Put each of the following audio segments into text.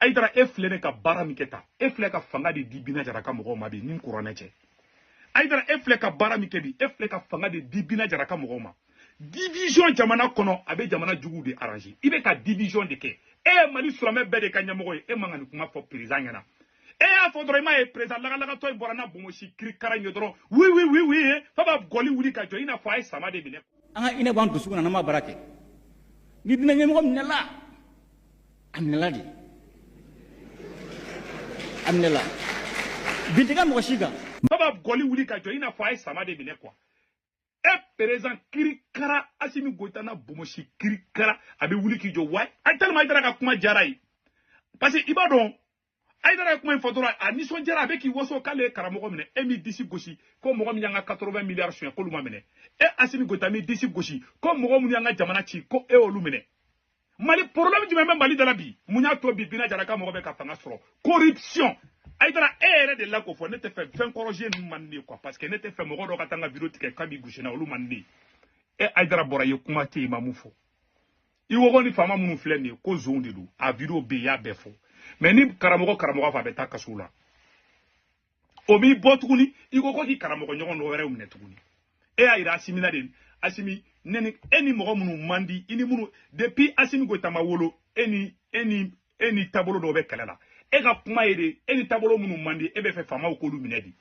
ayidara e filɛ de ka baara min kɛ tan e filɛ ka fanga de di bina jara ka mɔgɔw ma bi ni kuranɛ cɛ ayidara e filɛ ka baara min kɛ bi e filɛ ka fanga de di bina jara ka mɔgɔw ma division jamana kɔnɔ a bɛ jamana juguw de arrange i bɛ ka division de kɛ e ye mali silamɛ bɛɛ de ka ɲɛmɔgɔ ye e man ka nin kuma fɔ président ɲɛna e y'a fɔ dɔrɔn i m'a ye président lagalagatɔ in bɔra n'a bonbonsi kirikara in ye dɔrɔn oui oui oui oui ye f'a b'a gɔli wuli ka jɔ i n'a fɔ a ye sama de minɛ an ka diinɛ b'an dusukun na n'an ma baara kɛ ni diinɛ ɲɛmɔgɔ minɛla a minɛla de a minɛla bin tɛ kɛ mɔgɔ si kan f'a b'a gɔli wuli ka jɔ i n'a fɔ a ye sama de minɛ quoi e président kirikara asimi goyita n'a bonbonsi kirikara a bɛ wuli k'i jɔ wa a tellement ayidara ka kuma diyar'a ye parce que i b'a dɔn ayidara ye kuma in fɔ dɔrɔn a nisɔndiyara a bɛ k'i waso k'ale ye karamɔgɔ minɛ e m'i disi gosi ko mɔgɔ min y'an ka 80 miliyari sonya k'olu ma minɛ e asimi goyita m'i disi gosi ko mɔgɔ minnu y'an ka jamana ci ko e olu minɛ mali problème jumɛn bɛ mali de la bi mun y'a to bi bina jara ka mɔgɔ bɛ ka fanga sɔrɔ corruption ayidara e yɛrɛ de la k'o fɔ ne tɛ fɛ fɛn corrigé ninnu man di quoi parce que ne t'a fɛ mɔgɔ dɔ ka taa n ka video tigɛ k'a b'i gosi na olu man di e ayidara bɔra yen kuma tɛ yen i ma min fɔ i ko ko ni faama minnu filɛ nin ye ko zonw de don a video bɛ yen y'a bɛɛ fɔ mais ni karamɔgɔ karamɔgɔ fɔ a bɛ taa kaso la o m'i bɔ tuguni i ko ko k'i karamɔgɔ ɲɔgɔn dɔ wɛrɛw minɛ tuguni e y'a yira asimi na de asimi ne ni e ni mɔgɔ minnu man di i ni minnu depuis asimi goyita ma wolo e ni e ni e ni taabolo dɔw bɛ kɛlɛ la e ka kuma ye de e ni taabolo minnu man di e b'a fɛ faamaw k'olu minɛ di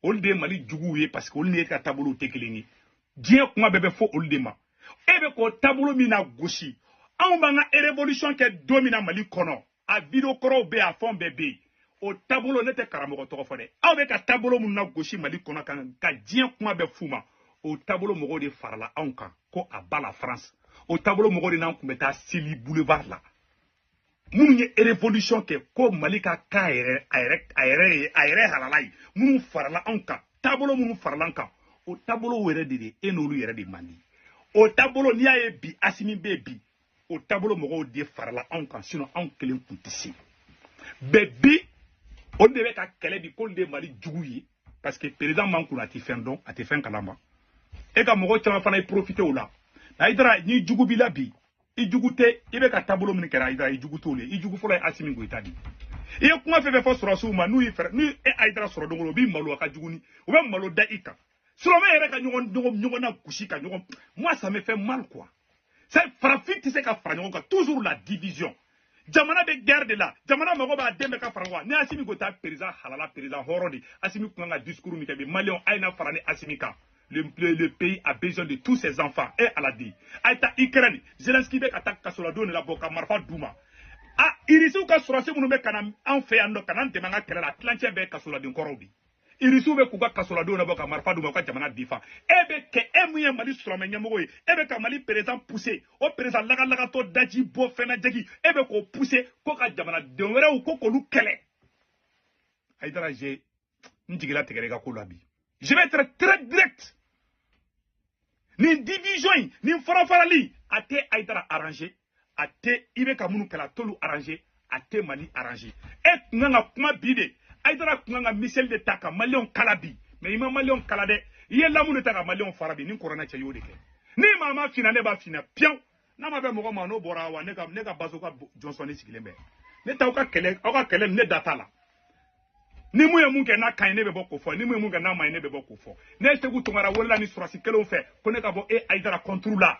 olu de ye mali juguw ye parce que olu ni e ka taabolow tɛ kelen ye diɲɛ kuma bɛɛ bɛ fɔ olu de ma e bɛ k'o taabolo min na gosi anw b'an ka révolution kɛ don min na mali kɔnɔ a video kɔrɔw bɛ a fɛnw bɛɛ bɛ yen o taabolo ne tɛ karamɔgɔ tɔgɔ fɔ dɛ aw bɛ ka taabolo minnu na gosi mali kɔnɔ ka ka diɲɛ kuma bɛɛ f'u ma o taabolo mɔgɔw de farala anw kan ko à bas la france o taabolo mɔgɔw de n'an tun bɛ taa seli boulevard la minnu ye révolution kɛ ko mali ka k'a yɛrɛ a yɛrɛ a yɛrɛ ye a yɛrɛ halala ye minnu farala anw kan taabolo minnu farala an kan o taabolow yɛrɛ de de e n'olu yɛrɛ de man di o taabolo n'i y'a ye bi asimi bɛ bi o taabolo mɔgɔw de farala anw kan sinon anw kelen tun tɛ se bɛ bi olu de bɛ ka kɛlɛ bi k'olu de ye mali jugu ye parce que président man kunna a tɛ fɛn dɔn a tɛ fɛn kalama e ka mɔgɔ caman fana ye profité o la ayidara ni jugu b'i la bi i jugu tɛ i bɛ ka taabolo min kɛlɛ ayidara i jugu t'olu ye i jugu fɔlɔ ye asimi goyita de i ye kuma fɛn fɛn fɔ sɔrɔsiw ma n'u y'i fɛɛrɛ n'u ye ayidara sɔrɔ dogo la u b'i malo a ka jugu ni u bɛ malo da i kan silamɛ yɛrɛ ka ɲɔgɔn ɲɔgɔn ɲɔgɔn na gosi ka ɲɔgɔn moi ça me fait mal quoi c'est farafin tɛ se ka fara ɲɔgɔn kan toujours la division jamana bɛ guerre de la jamana mago b'a den bɛɛ ka fara ɲɔgɔn kan ni asimi goyita perezan halala perezan hɔrɔn de asimi kun kan ka discours min kɛ bi maliyɛnw a ye na fara ni asimi kan le, le, le pays a besoin de tous ses enfants e ala di a ye taa ukraine zelenski bɛ ka taa kasoladenw de labɔ ka marifa d'u ma a irisiw ka sɔrasi minnu bɛ ka na an fɛ yan nɔ ka na an dɛmɛ an ka kɛlɛ la tilancɛ bɛɛ kasoladen kɔrɔw de irisiw bɛ k'u ka kasoladenw labɔ ka marifa d'u ma u ka jamana difan e bɛ kɛ e min ye mali silamɛ ɲɛmɔgɔ ye e bɛ ka mali perezan puse o perezan lagalagatɔ daji bɔ fɛnna jagi e bɛ k'o puse k'o ka jamanaden wɛrɛw ko k'olu kɛlɛ ayidara je n jigi latigɛra i ka ko la bi je vais être très direct nin division in nin farafarali a tɛ ayidara arranger a tɛ i bɛ ka minnu kɛlɛ a t'olu arranger a tɛ mali arranger e tun kan ka kuma bi de ayidara tun kan ka miseli de ta ka maliyɛnw kala bi mɛ i ma maliyɛnw kala dɛ i ye lamu de ta ka maliyɛnw fara bi ni kɔrɔna cɛ i y'o de kɛ ni maa m'a f'i ɲa ne b'a f'i ɲa pewu n'a ma bɛn mɔgɔ ma n'o bɔra wa ne ka ne ka bazoka jɔnsɔnni sigilen bɛ ne t'aw ka kɛlɛ aw ka kɛlɛ ne da t'a la ni mun ye mun kɛ n'a ka ɲi ne bɛ bɔ k'o fɔ ni mun ye mun kɛ n'a ma ɲi ne bɛ bɔ k'o fɔ ne ye seku tunkara wolola ni surasi kelenw fɛ ko ne ka bɔ e ayidara contre la